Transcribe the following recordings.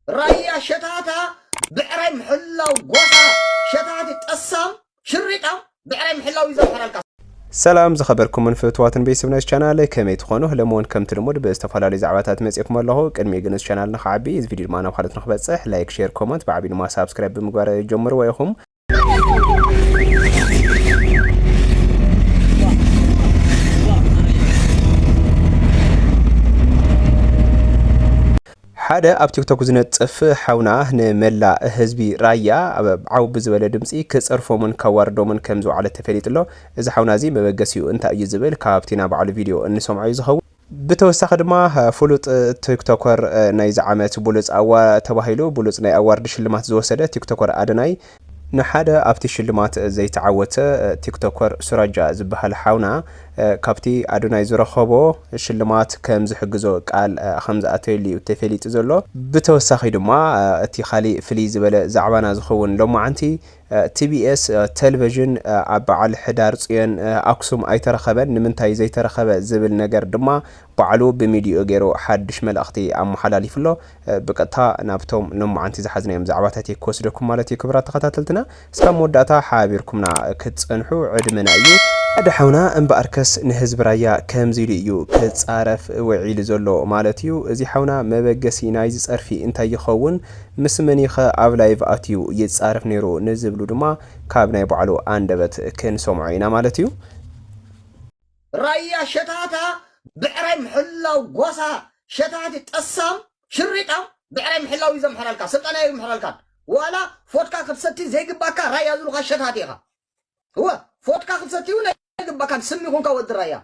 ራያ ሸታታ ብዕራይ ምሕላው ጎሳ ሸታቲ ጠሳም ሽሪጣም ብዕራይ ምሕላው እዩ ዘምሕረልካ። ሰላም ዝኸበርኩምን ፍትዋትን ቤተሰብ ናይዚ ቻናል ከመይ ትኾኑ ሎሚ እውን ከምቲ ልሙድ ብዝተፈላለዩ ዛዕባታት መፅኤኩም ኣለኹ ቅድሚ ግን እዚ ቻናል ንክዓቢ እዚ ቪድዮ ድማ ናብ ካልኦት ንክበፅሕ ላይክ ሼር ኮመንት ብዓብዩ ድማ ሳብስክራይብ ብምግባር ጀምርዎ ኢኹም ሓደ ኣብ ቲክቶክ ዝነጥፍ ሓውና ንመላእ ህዝቢ ራያ ኣብ ዓው ብዝበለ ድምፂ ክፀርፎምን ከዋርዶምን ከም ዝውዓለ ተፈሊጡ ኣሎ እዚ ሓውና እዚ መበገሲኡ እንታይ እዩ ዝብል ካብቲ ናብ ባዕሉ ቪድዮ እንሰምዖ እዩ ዝኸውን ብተወሳኺ ድማ ፍሉጥ ቲክቶከር ናይዚ ዓመት ብሉፅ ኣዋ ተባሂሉ ብሉፅ ናይ ኣዋርድ ሽልማት ዝወሰደ ቲክቶከር ኣደናይ፣ ንሓደ ኣብቲ ሽልማት ዘይተዓወተ ቲክቶከር ሱራጃ ዝበሃል ሓውና ካብቲ ኣዶናይ ዝረኸቦ ሽልማት ከምዝሕግዞ ቃል ከምዝኣተየሉ እዩ ተፌሊጡ ዘሎ። ብተወሳኺ ድማ እቲ ካሊእ ፍልይ ዝበለ ዛዕባና ዝኸውን ሎማዓንቲ ቲቢኤስ ተልቨዥን ኣብ በዓል ሕዳር ፅዮን ኣክሱም ኣይተረኸበን ንምንታይ ዘይተረኸበ ዝብል ነገር ድማ ባዕሉ ብሚድዩኡ ገይሩ ሓድሽ መልእኽቲ ኣመሓላሊፉ ኣሎ ብቀጥታ ናብቶም ሎማዓንቲ ዝሓዝናዮም ዛዕባታት እየ ክወስደኩም ማለት እዩ ክብራት ተኸታተልትና እስካብ መወዳእታ ሓቢርኩምና ክትፀንሑ ዕድመና እዩ ሓደ ሓውና እምበኣርከስ ንህዝቢ ራያ ከምዚ ኢሉ እዩ ክፃረፍ ውዒሉ ዘሎ ማለት እዩ እዚ ሓውና መበገሲ ናይዚ ፀርፊ እንታይ ይኸውን ምስ መን'ዩ'ኸ ኣብ ላይቭ ኣትዩ ይጻረፍ ነይሩ ንዝብሉ ድማ ካብ ናይ ባዕሉ ኣንደበት ክንሰምዖ ኢና ማለት እዩ። ራያ ሸታታ ብዕራይ ምሕላው ጓሳ ሸታቲ ጠሳም ሽሪጣም ብዕራይ ምሕላው እዩ ዘምሕረልካ ስልጠና ኣይምሕረልካን ዋላ ፎትካ ክትሰቲ ዘይግባካ ራያ ዝሉካ ሸታቲ ኢካ እወ ፎትካ ክትሰቲ ውን ኣይግባካን ስሚ ኩንካ ወዲ ራያ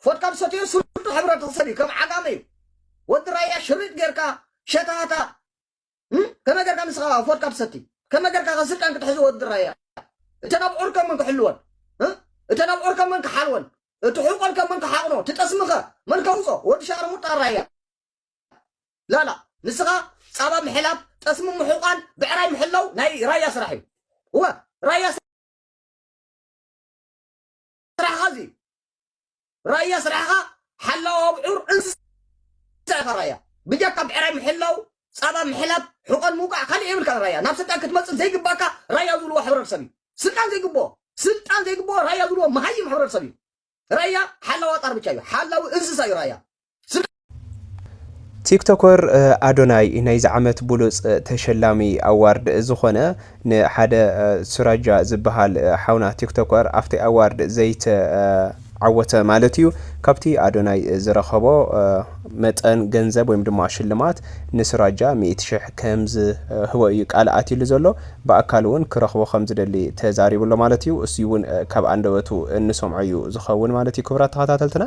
ፎድካ ዝሰተዮ ስሩቱ ሕብረተ ሰብ እዩ ከም ዓጋመ እዩ ወዲ ራያ ሽሪጥ ጌርካ ሸታታ እም ከመይ ጌርካ ንስኻ ፎድካ ትሰቲ ከመይ ጌርካ ከ ስልጣን ክትሕዞ ወዲ ራያ እተን ኣብዑር ከ መን ክሕልወን እ እተን ኣብዑር ከ መን ክሓልወን እቲ ሕቆን ከ መን ክሓቕኖ እቲ ጠስሚ ከ መን ከውጾ ወዲ ሻርሙጣ ራያ ላላ ንስኻ ጻባ ምሕላብ ጠስሚ ምሑቃን ብዕራይ ምሕላው ናይ ራያ ስራሕ እዩ እወ ራያ ስራሕኻ እዚ እዩ ራያ ስራሕኻ ሓላው ኣብዑር እንስሳ ኢኻ ራያ ብጀካ ብዕራይ ምሕላው ፃባ ምሕላብ ሕቆን ምውቃዕ ካልእ የብልካን ራያ ናብ ስልጣን ክትመፅእ ዘይግባካ ራያ ዝብልዎ ሕብረተሰብ እዩ ስልጣን ዘይግብኦ ስልጣን ዘይግብኦ ራያ ዝብልዎ መሃይም ሕብረተሰብ እዩ ራያ ሓላዋ ጣር ብቻ እዩ ሓላዊ እንስሳ እዩ ራያ ቲክቶከር ኣዶናይ ናይዚ ዓመት ብሉፅ ተሸላሚ ኣዋርድ ዝኾነ ንሓደ ሱራጃ ዝበሃል ሓውና ቲክቶከር ኣብቲ ኣዋርድ ዘይተዓወተ ማለት እዩ ካብቲ ኣዶናይ ዝረኸቦ መጠን ገንዘብ ወይም ድማ ሽልማት ንሱራጃ ሚእቲ ሽሕ ከም ዝህቦ እዩ ቃል ኣትሉ ዘሎ ብኣካል እውን ክረኽቦ ከም ዝደሊ ተዛሪብሎ ማለት እዩ እሱ እውን ካብ ኣንደበቱ እንሰምዖ እዩ ዝኸውን ማለት እዩ ክብራት ተኸታተልትና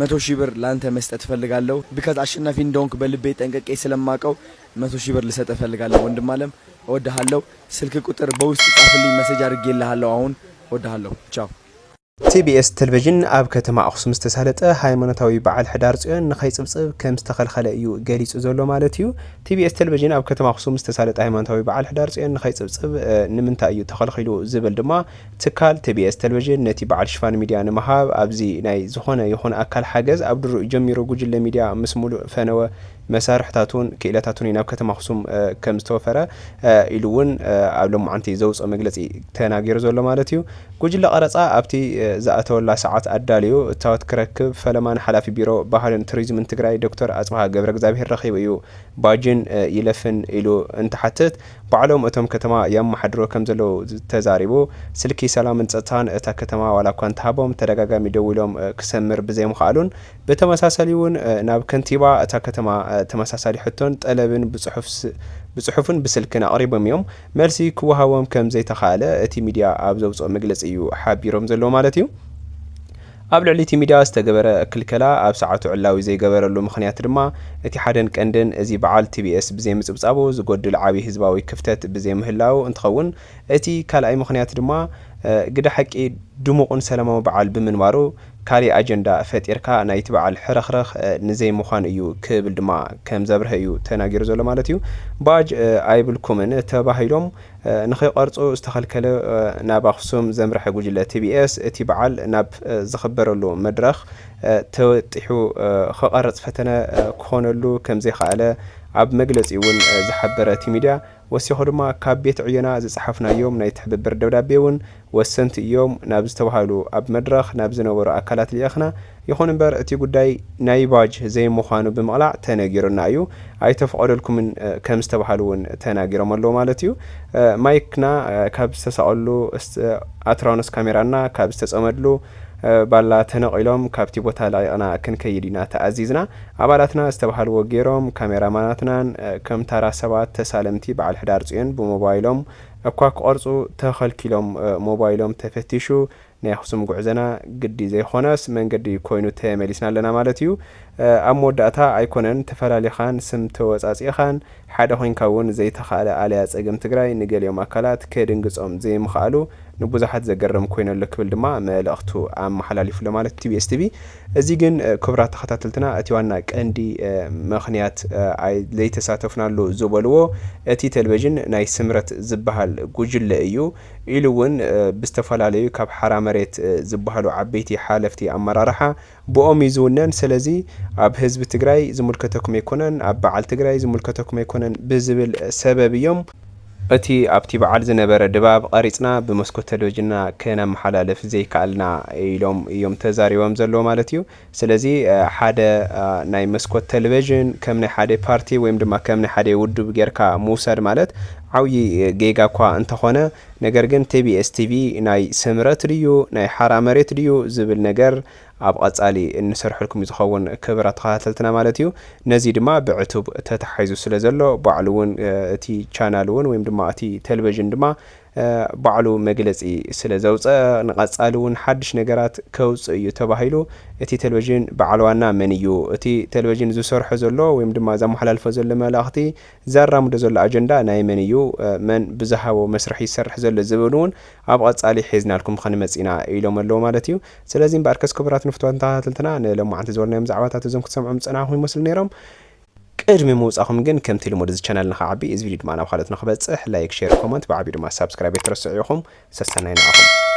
መቶ ሺህ ብር ላንተ መስጠት እፈልጋለው ቢካዝ ኣሸናፊ እንደሆንክ በልቤ ጠንቅቄ ስለማቀው መቶ ሺህ ብር ልሰጥህ እፈልጋለው ወንድም ኣለም እወድሃለው ስልክ ቁጥር በውስጥ ጻፍልኝ መሰጅ ኣርጌልሃለው ኣሁን እወድሃለው ቻው። TBS ተልቨዥን ኣብ ከተማ ኣኽሱም ዝተሳለጠ ሃይማኖታዊ በዓል ሕዳር ፅዮን ንከይፅብፅብ ከምዝተኸልኸለ እዩ ገሊፁ ዘሎ ማለት እዩ። TBS ተልቨዥን ኣብ ከተማ ኣኽሱም ዝተሳለጠ ሃይማኖታዊ በዓል ሕዳር ፅዮን ንከይፅብፅብ ንምንታይ እዩ ተኸልኺሉ ዝብል ድማ ትካል ቲቢኤስ ተልቨዥን ነቲ በዓል ሽፋን ሚድያ ንምሃብ ኣብዚ ናይ ዝኾነ ይኹን ኣካል ሓገዝ ኣብ ድሩኡ ጀሚሩ ጉጅለ ሚድያ ምስ ሙሉእ ፈነወ መሳርሕታቱን ክኢለታቱን እዩ ናብ ከተማ ኣኽሱም ከም ዝተወፈረ ኢሉ እውን ኣብ ሎማዓንቲ ዘውፅኦ መግለፂ ተናጊሩ ዘሎ ማለት እዩ ጉጅለ ቀረፃ ኣብቲ ዝኣተወላ ሰዓት ኣዳልዩ እታወት ክረክብ ፈለማ ንሓላፊ ቢሮ ባህልን ቱሪዝምን ትግራይ ዶክተር ኣፅብሃ ገብረእግዛብሄር ረኺቡ እዩ ባጅን ይለፍን ኢሉ እንትሓትት ባዕሎም እቶም ከተማ የመሓድርዎ ከምዘለዉ ተዛሪቡ። ስልኪ ሰላምን ጸጥታን እታ ከተማ ዋላኳ እንተሃቦም ተደጋጋሚ ደዊሎም ክሰምር ብዘይምኽኣሉን ብተመሳሳሊ'ውን ናብ ከንቲባ እታ ከተማ ተመሳሳሊ ሕቶን ጠለብን ብጽሑፍን ብስልክን ኣቕሪቦም'ዮም መልሲ ክወሃቦም ከምዘይተኻእለ እቲ ሚድያ ኣብ ዘውጽኦ መግለጺ'ዩ ሓቢሮም ዘለዉ ማለት'ዩ። ኣብ ልዕሊ እቲ ሚድያ ዝተገበረ ክልከላ ኣብ ሰዓቱ ዕላዊ ዘይገበረሉ ምኽንያት ድማ እቲ ሓደን ቀንድን እዚ በዓል ቲቢኤስ ብዘይምፅብፃቡ ዝጎድል ዓብይ ህዝባዊ ክፍተት ብዘይምህላዉ እንትኸውን እቲ ካልኣይ ምኽንያት ድማ ግደ ሓቂ ድሙቕን ሰላማዊ በዓል ብምንባሩ ካሊእ ኣጀንዳ ፈጢርካ ናይቲ በዓል ሕርኽርኽ ንዘይምዃን እዩ ክብል ድማ ከምዘብርሀ እዩ ተናጊሩ ዘሎ ማለት እዩ ባጅ ኣይብልኩምን ተባሂሎም ንከይቐርፁ ዝተኸልከለ ናብ ኣኽሱም ዘምረሐ ጉጅለ ቲቢኤስ እቲ በዓል ናብ ዝኽበረሉ መድረኽ ተወጢሑ ክቐርፅ ፈተነ ክኾነሉ ከምዘይኸኣለ ኣብ መግለፂኡ እውን ዝሓበረ እቲ ሚዲያ ወሲኹ ድማ ካብ ቤት ዕዮና ዝፀሓፍናዮም ናይ ትሕብብር ደብዳቤ እውን ወሰንቲ እዮም ናብ ዝተብሃሉ ኣብ መድረኽ ናብ ዝነበሩ ኣካላት ልኢኽና። ይኹን እምበር እቲ ጉዳይ ናይ ባጅ ዘይምዃኑ ብምቕላዕ ተነጊሩና እዩ፣ ኣይተፍቐደልኩምን ከም ዝተብሃሉ እውን ተናጊሮም ኣለዉ ማለት እዩ። ማይክና ካብ ዝተሰቐልሉ ኣትራኖስ ካሜራና ካብ ዝተፀመድሉ ባላ ተነቒሎም ካብቲ ቦታ ለቒቕና ክንከይድ ኢና ተኣዚዝና። ኣባላትና ዝተብሃልዎ ገይሮም፣ ካሜራማናትናን ከም ታራ ሰባት ተሳለምቲ በዓል ሕዳር ፅዮን ብሞባይሎም እኳ ክቐርጹ ተኸልኪሎም ሞባይሎም ተፈቲሹ ናይ ኣኽሱም ጉዕዘና ግዲ ዘይኾነስ መንገዲ ኮይኑ ተመሊስና ኣለና ማለት እዩ። ኣብ መወዳእታ ኣይኮነን ተፈላሊኻን ስም ተወጻጺእኻን ሓደ ኮይንካ እውን ዘይተኻእለ ኣለያ ጸገም ትግራይ ንገሊኦም ኣካላት ከድንግጾም ዘይምኽኣሉ ንቡዙሓት ዘገርም ኮይኑ ኣሎ ክብል ድማ መልእኽቱ ኣመሓላሊፉ ኣሎ ማለት ቲቢኤስ ቲቪ እዚ ግን ክብራት ተኸታተልትና እቲ ዋና ቀንዲ ምኽንያት ዘይተሳተፍናሉ ዝበልዎ እቲ ተልቨዥን ናይ ስምረት ዝበሃል ጉጅለ እዩ ኢሉ እውን ብዝተፈላለዩ ካብ ሓራ መሬት ዝበሃሉ ዓበይቲ ሓለፍቲ ኣመራርሓ ብኦም እዩ ዝውነን ሰለዚ ኣብ ህዝቢ ትግራይ ዝምልከተኩም ኣይኮነን ኣብ በዓል ትግራይ ዝምልከተኩም ኣይኮነን ብዝብል ሰበብ እዮም እቲ ኣብቲ በዓል ዝነበረ ድባብ ቐሪፅና ብመስኮት ተለቪጅንና ክነመሓላልፍ ዘይከኣልና ኢሎም እዮም ተዛሪቦም ዘለዉ ማለት እዩ። ስለዚ ሓደ ናይ መስኮት ተለቪዥን ከም ናይ ሓደ ፓርቲ ወይም ድማ ከም ናይ ሓደ ውድብ ጌርካ ምውሳድ ማለት ዓብዪ ጌጋ እኳ እንተኾነ ነገር ግን ቲቢኤስ ቲቪ ናይ ስምረት ድዩ ናይ ሓራ መሬት ድዩ ዝብል ነገር ኣብ ቐጻሊ እንሰርሐልኩም እዩ ዝኸውን ክብራት ተኸታተልትና ማለት እዩ። ነዚ ድማ ብዕቱብ ተታሓሒዙ ስለ ዘሎ ባዕሉ እውን እቲ ቻናል እውን ወይም ድማ እቲ ተልቨዥን ድማ ባዕሉ መግለጺ ስለ ዘውጸ ንቐጻሊ እውን ሓድሽ ነገራት ከውጽእ እዩ ተባሂሉ እቲ ተልቨዥን በዓል ዋና መን እዩ እቲ ተልቨዥን ዝሰርሖ ዘሎ ወይም ድማ ዘመሓላልፎ ዘሎ መልእኽቲ ዘራምዶ ዘሎ ኣጀንዳ ናይ መን እዩ መን ብዝሃቦ መስርሕ ይሰርሕ ዘሎ ዝብል እውን ኣብ ቐጻሊ ሒዝናልኩም ኸንመጽ ኢና ኢሎም ኣለዉ ማለት እዩ። ስለዚ እምበኣርከስ ክቡራት ንፍትዋትን ተኸታተልትና ንሎማዓንቲ ዝበልናዮም ዛዕባታት እዞም ክትሰምዖም ዝጸናሕኹም ይመስሉ ነይሮም። ቅድሚ ምውጻኹም ግን ከምቲ ልሙድ እዚ ቻናል ንኽዓቢ እዚ ቪድዮ ድማ ናብ ካልኦት ንኽበጽሕ ላይክ ሼር ኮመንት ብዓቢኡ ድማ ሳብስክራይብ ኣይትረስዑ ኢኹም። ሰሰናዩ ንዓኹም።